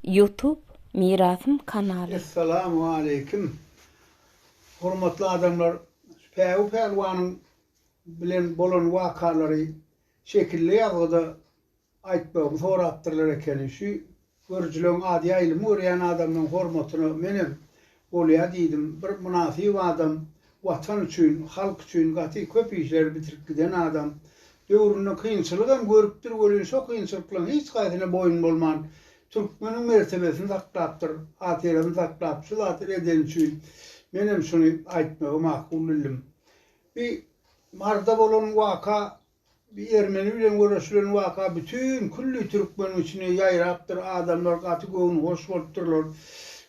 Youtube mirasym kanaly. Essalamu aleýkim. Hormatly adamlar Päwi Pälwanyň bilen bolan wakalary şekilli ýazgyda aýtmagymy sorapdyrlar ekeni. Şu görüjileň az ýaýylymy görýän adamlaň hormatyna menem Bolýa diýdim, bir mynasyp adam, Watan üçin, halk üçin gaty köp işleri bitirip giden adam. Döwründe kynçylyk hem görüpdir welin şo kynçylyklaryň hiç haýsyna boýun bolman, türkmeniň mertebesini saklapdyr, hatyrasyny saklap şu zady edeni üçin men hem şuny aýtmagy makul bildim. Bi Maryda bolan waka Bir ermeni bilen göreşilen waka bütin külli türkmeniň içine ýaýrapdyr, adamlar gaty göwnühoş bolupdyrlar.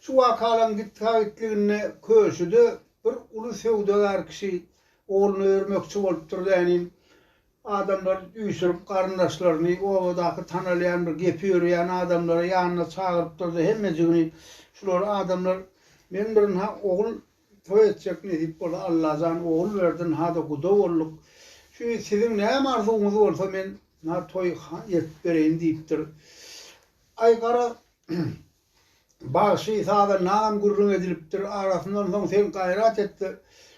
Şu wakalaryň gitgagitliginde köşede bir uly söwdagär kişi ogluna örmekçi bolupdyr dänin. Adamlar üýşürip garyndaşlaryny, obadaky tanalýan bir gepi örýän adamlary ýanyna çagyrypdyrda hemmejigini şular adamlar, Men birin-ha ogul Toý etjek nesip bolsa Allajan ogul berdin hada guda bolduk şu siziň näme arzuwyňyz bolsa men na toý etip bereýin diýipdir Aý gara bagşy saza nam gürrüň edilipdir arasyndan soň sen gaýrat etde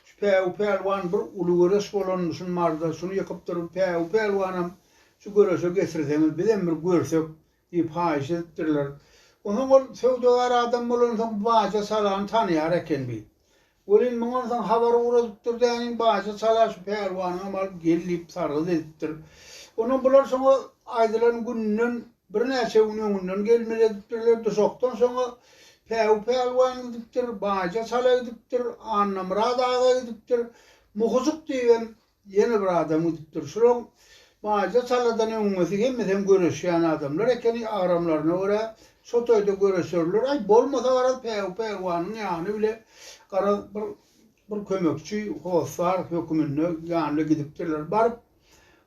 şu päwü pälwan bir uly göreş bolanmyşyn marda şuny ýykypdyr päwü pälwanam şu göreşe getirseňiz bizem bir görsek Diýip haýyş edipdirler. Onsoň ol söwdagär adam bolansoň baja salany tanaýar eken bi. Welin mundan soň habar ugradypdyr däniň baja sala şu pälwanyňam alyp gel diýip sargyt edipdir. Onsoň bular şoňa aýdylan günden birnäçe gün öňünden gelmeli edipdirler. Duşakdan soňa Päwü pälwan gidipdir, baja sala gidipdir, Annamyrat aga gidipdir. Muhyjyk diýibem Ýene bir adam gidipdir. Şulaň Maýda taladan öňňesi hemmesem göreşýän adamlar ekeni, agramlaryna görä, şo toýda göreşerler. Aý, bolmasa garaz, päw, pälwanyň ýany bile, garaz, bir bir kömekçi, hossar höküminde ýanyna gidipdirler. Baryp,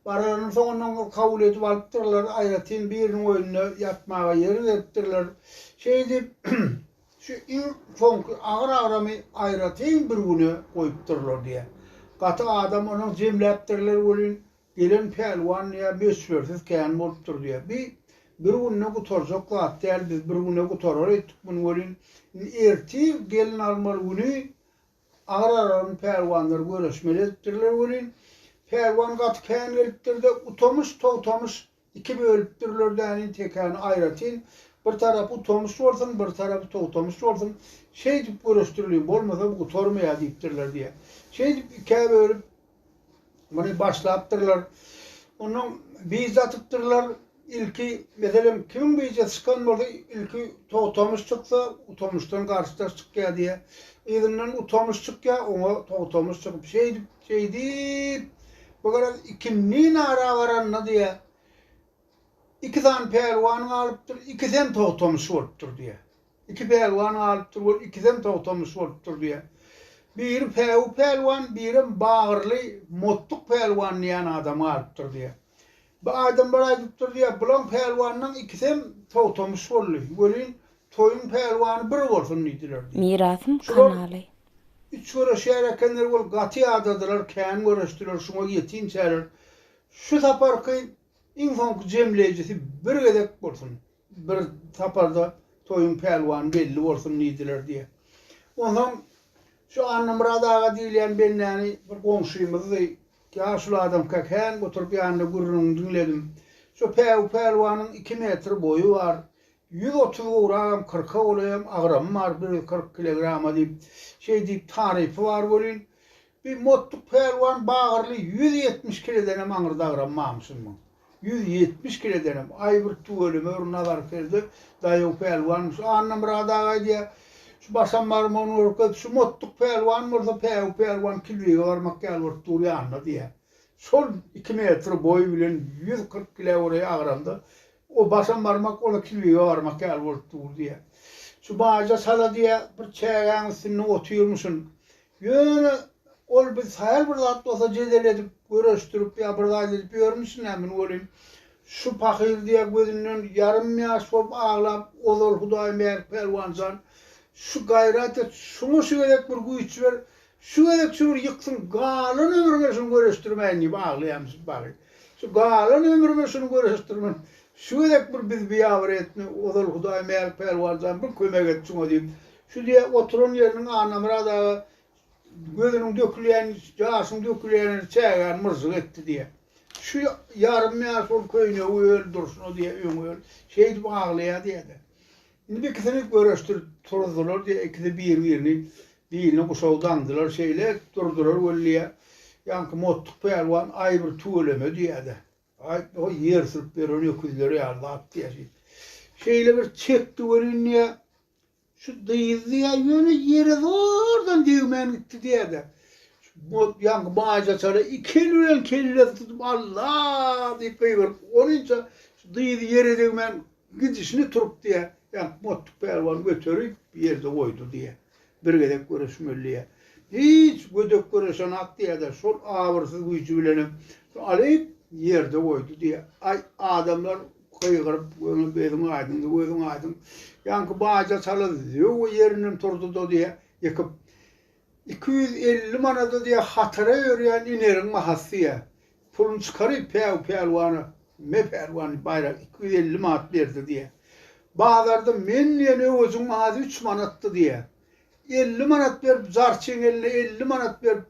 baranyň soňundan bir kabul edip alypdyrlar, aýratyn biriniň öýünde ýatmaga ýer beripdirler. Şeýdip, Şu iň soňky agyr agramy aýratyn bir güne goýupdyrlar diýýär. Gaty adam onuň jemläpdirler welin, gelen pälwan diýýär, möçbersiz kän bolupdyr diýýär. Bi bir günde gutarjak zat däl, biz bir güne gutarar etdik muny welin, indi ertir gelin almaly güni agyr agramyň pälwanlary göreşmeli edipdirler welin, pälwan gaty kän gelipdir-de, utamyş-togtamyş Iki bölüpdirler däniň tekäni aýratyn, bir tarapy tomsuş bolsun, bir tarapy togtamyş bolsun, şeýdip göreşdiriliň, bolmasa bu gutarmaýar diýipdirler diýýär. Şeýdip ikä bölüp, muny başlapdyrlar. Ondan bije atypdyrlar. Ilki, meselem, kimiň bije çykan bolsa, ilki togtamyş çyksa, utamyşdan garşydaş çykýar diýýär. Yzyndan utamyş çykýar, oňa togtamyş çykyp, şeýdip, Şeýdip, bu gezek ikindi nara baranda diýýä, iki sany pälwan galypdyr, ikisem togtamyş bolupdyr diýýä. Iki pälwan galypdyr, ol ikisem togtamyş bolupdyr diýýä. Biri Päwü pälwan, birem Bagyrly Motduk pälwan diýýän adam galypdyr diýýä. Bu adamlar aýdypdyr diýýär, bulaň pälwanlaň ikisem togtamyş boldy, welin toýuň pälwany bir bolsun diýdiler diýip. Mirasym kanaly. Şular üç göreşýär ekenler, ol gaty ýadadylar, kän göreşdiler, şuňa ýetim çärer. Şu saparky iň soňky jemleýjisi bir gezek bolsun. Bir saparda toýuň pälwany belli bolsun diýdiler diýýä. Onsoň şu Annamyrat aga diýilýän bendäni bir goňşymyzdy. Ýaşuly adamka kän oturyp ýanynda gürrüňini diňledim. Şu päw pälwanyň iki metr boýy bar. Ýüz otuz gowragam, kyrka golaýam agramy bar, bir ýüz kyrk kilegrama diýip, şeý diýip tarypy bar welin, Bi Mottuk pälwan bagyrly ýüz ýetmiş kiledenem aňry dagramammyşynmyň? Ýüz ýetmiş kiledenem! Aý, bir tüweleme bir nazar selde, daýaw pälwanmyş. Annamyrat aga aýdýar, Şu başam barym ony görkez, şu Mottuk pälwan bolsa Päwü pälwan kilbege barmak ýaly bolup dur ýanyna diýýär. Şol iki metr boýy bilen ýüz kyrk kile göreý agramda o başam barmak, o-da kilbege barmak ýaly bolup dur diýýär. Şu Baýja çala diýýär, bir çägäň üstünde otyrmyşyn. Ýöne ol biz haýal bir zat bolsa jedel edip, göreşdirip ýa bir zat edip ýörmüş nämen welin, şu pahyr diýýär gözünden ýarym ýaş bolup aglap, ozal Hudaý Mälik Pälwan jan, şu gaýrat et, şuňa şu gezek bir güýç ber, şu gezek şu bir ýyksyn, galan ömrüme şuny göreşdirmäýin diýip aglaýamyş bagy. Şu galan ömrüme şuny göreşdirmän, şu gezek bir bizi biýabyr etme, ozal Hudaý Mälik Pälwan jan, bir kömek et şuňa diýip, Şu diýe oturan ýeriniň Annamyrat aga gözüniň dökülýän, ýaşyň dökülýänini çägär myžžyk etdi diýe. Şu ýarym ýaş ol köýnegi öl durşuna diýe, öň öl. Şeýdip aglaýar diýe-de. Indi bu ikisini görüşdirip turuzdylar diýe, ikisi bir-birini biline guşagy daňdylar, şeýle durdular weli-ä. Ýaňky Mottuk pälwan, Aý bir tüweleme diýe-de. Aý, o ýer sürüp ýören öküzler ýaly zat diýe şeýdip. Şeýle bir çekdi welin diýe. Şu gyz diýýä, ýöne ýere zordan degmän gitdi diýýä-de, bu ýaňky Maýsa çala iki eli bilen kellesini tutup, Alla! diýip gygyryp, onunça şu gyzy ýere degmän gidişine turup diýýä, ýaňky Mottuk pälwan göterip, bir ýerde goýdy diýýä. Bir gezek göreşmeli diýýä. Hiç gödek göreşenak diýýä-de, şol abyrsyz güýji bilenem şu alyp, ýerde goýdy diýýä. Aý, adamlar! Gygyryp, Göni beziň aýdyňdy, gözüň aýdyň. Ýaňky baja çala zöwwe ýerinden turdy-da diýýär, Ýykyp, iki ýüz elli manada diýýär, hatara ýörýän ineriň bahasy diýýär. Puluny çykaryp, Päw, pälwana, me pälwan baýrak iki ýüz elli manat berdi diýýär. Bazarda men diýen öwejiň bahasy üç manatdy diýýär. Elli manat berip jarçyň eline elli manat berip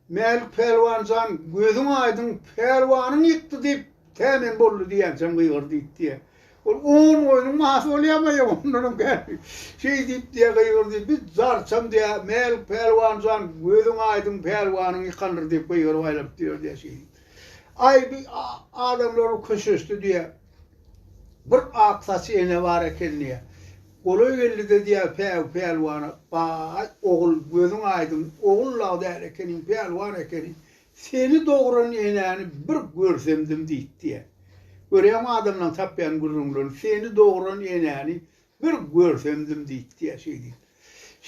Mälik Pälwan jan gözüň aýdyň Pälwanyň ýykdy diýip tä men boldy diýýänçäm gygyr diýip diýýä. Ol on goýnuň mahy bolýamaýa ondanam käri şeý diýip diýýä gygyr diýip biz jarçam diýýä Mälik Pälwan jan gözüň aýdyň Pälwanyň ýykandyr diýip gygyryp aýlanyp diýýär diýýä şeý diýip. Aý bir adamlar köşeşdi diýýä. Bir ak saçy ene bar eken diýýär. Golaý geldi-de diýýär Päwü pälwana, Baý, ogul, gözüň aýdyň, ogul law däl ekeniň, pälwan ekeniň. Seni dogran enäni bir görsemdim diýip diýýär. Görýäňmi adamlaň tapýan gürrüňlerini, Seni dogran enäni bir görsemdim diýip diýýär şeý diýip.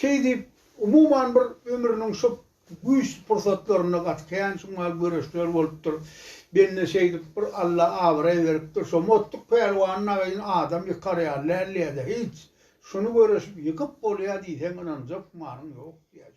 Şeý diýip, umuman bir ömrüniň şu Güýç pursatlarynda gaty kän şu mal göreşler bolupdyr. Bende şeýdip bir Alla abraý beripdir. Şo Mottuk pälwan nagyny adam ýykar ýaly däldi ýa-da hiç. Şuny göreşip ýykyp bolýar diýseň ynanjak malyň ýok diýýär.